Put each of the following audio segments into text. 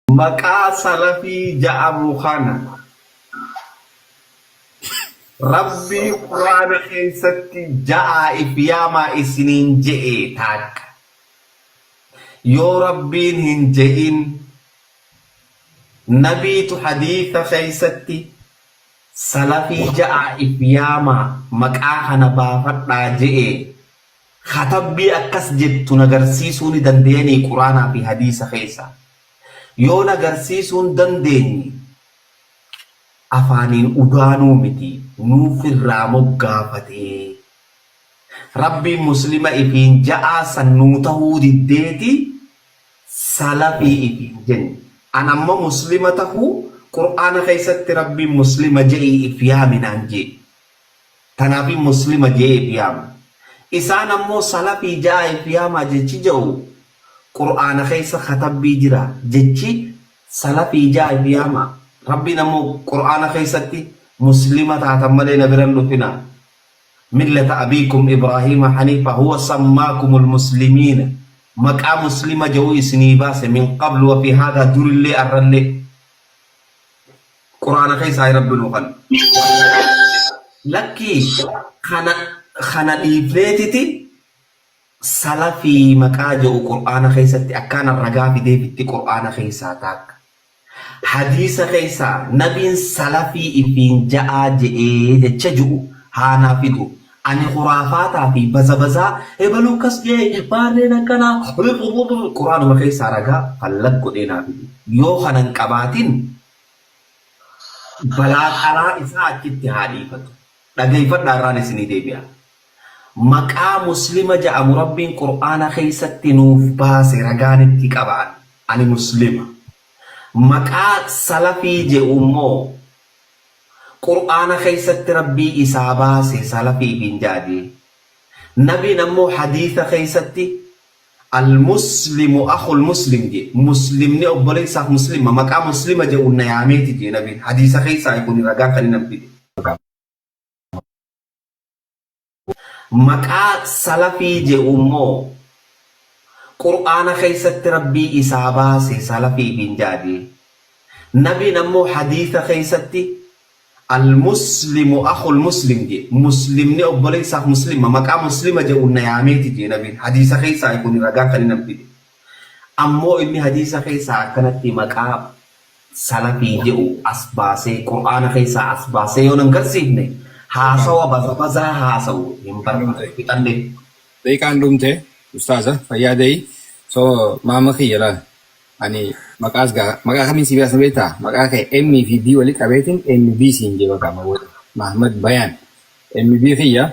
Maqaa salafii ja'amu kana Rabbii quraana keessatti ja'aa if yaamaa isiniin je'ee taakka yoo Rabbiin hin je'in nabiitu hadiisa keessatti salafii ja'aa if yaamaa maqaa kana baafadhaa je'ee Katabbii akkas jettu na garsiisuu ni dandeyanii quraanaa fi hadiisa keessaa? Yoo na garsiisuu hin dandeenye afaaniin udaanuu miti nuuf irraa moggaafatee Rabbiin muslima ifiin ja'aa san nuu tahuu diddeeti salafii ifiin jenne an amma muslima tahuu quraana keessatti Rabbiin muslima ja'ii if yaami naan je'e Tanaafi Muslima jee ifi yaama. Isaan ammoo Salafii ja'aa ifi yaamaa jechi ja'u Qur'aana keessa katabbii jira jechi Salafii ja'aa ifi yaamaa. Rabbiin ammoo Qur'aana keessatti Muslima taatan malee na bira hin dhufinaa. Millata Abiikum Ibraahiima Haniifa huwa sammaakumul Muslimiina. Maqaa Muslima ja'u isinii baase min qablu wa fi haadhaa durillee arrallee. Qurana keessaai rabbi nu kan. Lakkii kana kana dhiifneetiti salafii maqaa je'u qur'aana keessatti akkaana ragaa fidee fitti qur'aana keessaa taakka hadiisa keessaa nabiin salafii ifiin ja'aa je'ee jecha ju'u haa naa fidu ani khuraafaataa fi bazabazaa ebaluu akkas je'e baarreen akkanaa qur'aanuma keessaa ragaa fallag godhee naa fidu yoo kana hin qabaatin Balaa karaa isaa achitti haa dhiifatu. Dhageeyfadhaa irraan isinii deebi'a. Maqaa Muslima ja'amu Rabbiin Qur'aana keeysatti nuuf baase ragaan itti qaba an. Ani Muslima. Maqaa Salafii je'u immoo Qur'aana keeysatti Rabbii isaa baase Salafii ifiin ja'a je'e. Nabiin ammoo Hadiitha keeysatti Al-Muslimu akhul Muslim jee, Muslimni obboleessaaf Muslima, maqaa Muslima je'uun na yaameeti jee Nabiin, hadiisa keessaayi kuni ragaa kani nan fide. Maqaa Salafii je'u immoo Qur'aana keessatti Rabbii isaa baase Salafiifiin ja'a jee. Nabiin ammoo hadiisa keessatti Al-Muslimu akhul Muslim jee, Muslimni obboleessaaf Muslima, maqaa Muslima je'uun na yaameeti jee nabiin, hadiisa keessaayi kuni ragaan kan inni fide. Ammoo inni hadiisa keessaa akkanatti maqaa Salafii je'u as baasee, Qur'aana keessaa as baasee yoo nan garsiifne, haasawa bazabazaa haasawu hin barbaadu. Fixannee. Daqiiqaan dhumte ustaaza fayyaa da'i so maama kiyya laal. Ani maqaa as gaa maqaa kamiin si baasa beektaa? Maqaa kee M fi B walitti qabeetiin MB siin jee bakka amma booda. Mahmad Bayaan MB kiyya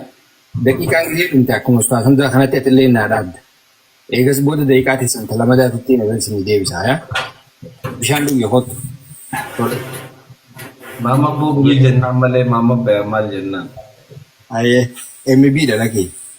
daqiiqaan gisee dhumte akkuma Ustaaz Hamzaa kanatti atillee naa dhaabda. Eegas booda daqiiqaa teessan ta lamadaatitti na bira isinii deebisa haya. Bishaan dhugi kottu. Tole. Maamma Boo Gumii jennaan malee Maamma Bayaan maal jennaan? Haye MB dha lakii.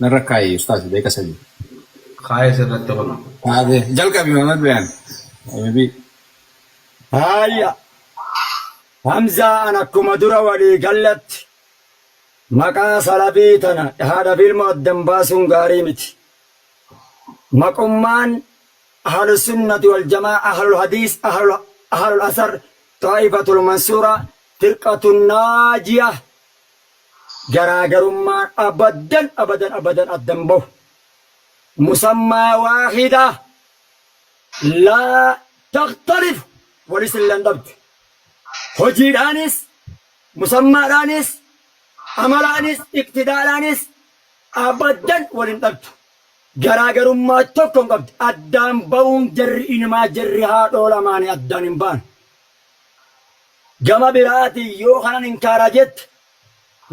Narra kaa'i ustaas beeka sadii. Kaa'ee sirratti kuno. Kaa'ee jalqabi Muhammad Bayaan. Habibii. Haaya Hamzaa an akkuma dura walii galletti maqaa salabii tana haadha fi ilmoo addan baasuun gaarii miti. Maqummaan Ahlus Sunnati wal Jamaa'ah, Ahlul Hadiis, Ahlul Asar, Xaa'ifatul Mansuurah, Firqatun Naajiyah, Garaagarummaan abadan abadan abadan adda hin bahu. Musammaa waahida laa takhtalifu wali silla hin dhabdu. Hojiidhaanis, musammaadhaanis, amalaanis, iqtidaadhaanis abadan wal hin dhabdu. Garaagarummaa tokko hin qabdu. Addaan bahuun jarri inimaa jarri haadhoo lamaanii addaan hin bahan. Gama biraatiin yoo kanan inkaara jette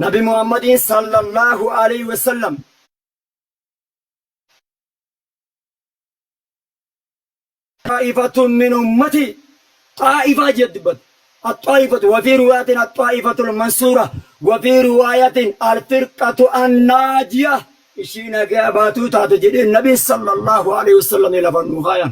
nabi Muhammadiin sallallaahu aleyhi wassallam. xaa'ifatun min ummatii xaa'ifaa jee dubbate. Axxaa'ifatu wa fii riwaayatin axxaa'ifatul mansuurah wa fii riwaayatin alfirqatu annaajiyah ishii nagaa baatuu taate jedhee nabiin sallallaahu aleyhi wassallam lafa nuu kaayan.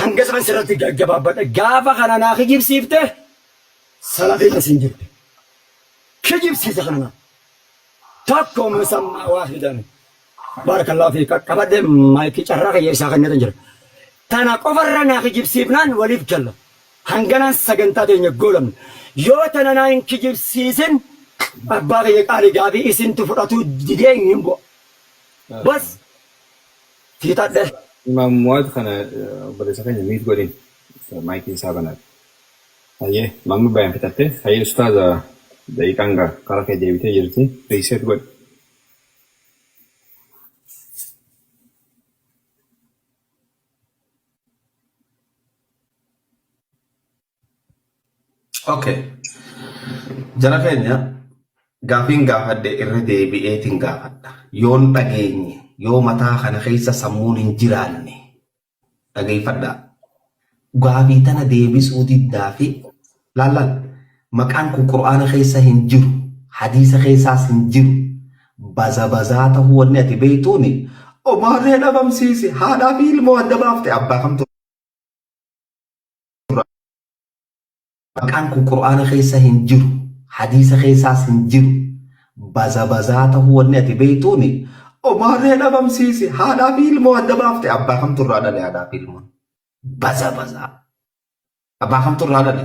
Hanga isaan sirratti gaggabaabbadhe gaafa kana naa kijibsiifte salafiin as hin jirtu. Kijibsiisa kana naa. Tokko musammaa waahidan. Baarakallaahu fiik qaqqabadhe maayikii carraa kiyya isaa kenneetan jira. Tana qofarra naa kijibsiifnaan waliif galla. Hanganaan sagantaa teenya goolabna. Yoo tana naa hin kijibsiisin abbaa kiyya qaalii gaafii isintu fudhatuu didee hin bu'a. Bas. Siitadhe. Imaam Muwaaz kana eh, obboleessa keenya miit godhin maayikii isaa banadha. Hayyee mamma bayan fixatte hayyee ustaaza daqiiqaan gaa kara kee deebitee jirti riiseet godhi. Okay. Jara keenya gaafiin gaafadhe irra deebi'eetiin gaafadha. Yoon dhageenye yoo mataa kana keessa sammuun hin jiraanne dhageeffadhaa. Gaafii tana deebisuu diddaa fi laallaan maqaan kun qura'aana keessa hin jiru hadiisa keessaas hin jiru baza bazaa ta'uu wanni ati beektuuni omaarree dhabamsiise haadhaa fi ilmoo adda baafte abbaa kamtu Maqaan kun qur'aana keessa hin jiru, hadiisa keessaas hin jiru. Bazabazaa tahuu wanni ati beeytuuni Omaaree dhabamsiise haadhaa fi ilmoo adda baafte abbaa kamtu irraa dhale haadhaa fi ilmoon? Bazabazaa. Abbaa kamtu irraa dhale?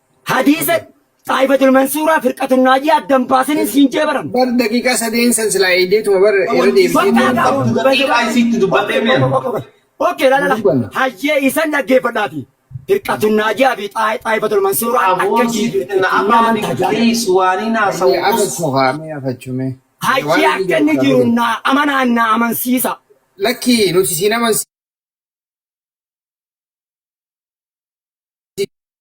Hadiisa Xaa'ifatul Mansuuraa Firqatun Naajiyaa addan baasanii siin jee baran. bar daqiiqaa sadeen san silaa eeydeetuma bar irra Bakka deebitee gaa gaa Qabdu daqiiqaa isiitti dubbadhee Okkee mi'a? okkee okkee okkee. Okkee lala lala. Dubbanna. Hayyee isan dhaggeeffadhaati. Firqatun Naajiyaa fi Xaa- Xaa'ifatul Mansuuraa akka Aboo jii siif na abbaa nyaata miti jaalata. please waaniin Mee haasa'u us. afachuu kaa mee afachuu mee. Mee Hayyee waan inni akka jedhu inni kaa mee jiru deebi. naa amanaa naa amansiisa. Lakkii nuti siin amansiisa.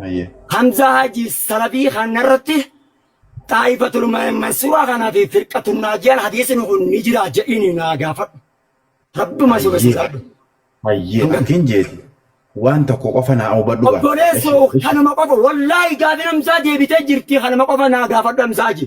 Hayyee. Hamzaa Haji Salafii kana irratti Xaa'ifatul Mansuuraa kanaa fi Firqatul Naajiyaan hadiisni kun ni jira jedhiin naa gaafadhu. Rabbuma si Hayyee. sodaadhu. Hayyee. Hanga- Atiin jeeti. Waan tokko qofa naa hubadhu gaa. Obboleessoo Eshi, eshi. kanuma qofa wallaahi gaafin Hamzaa deebitee jirti kanuma qofa naa gaafadhu Hamzaa Haji.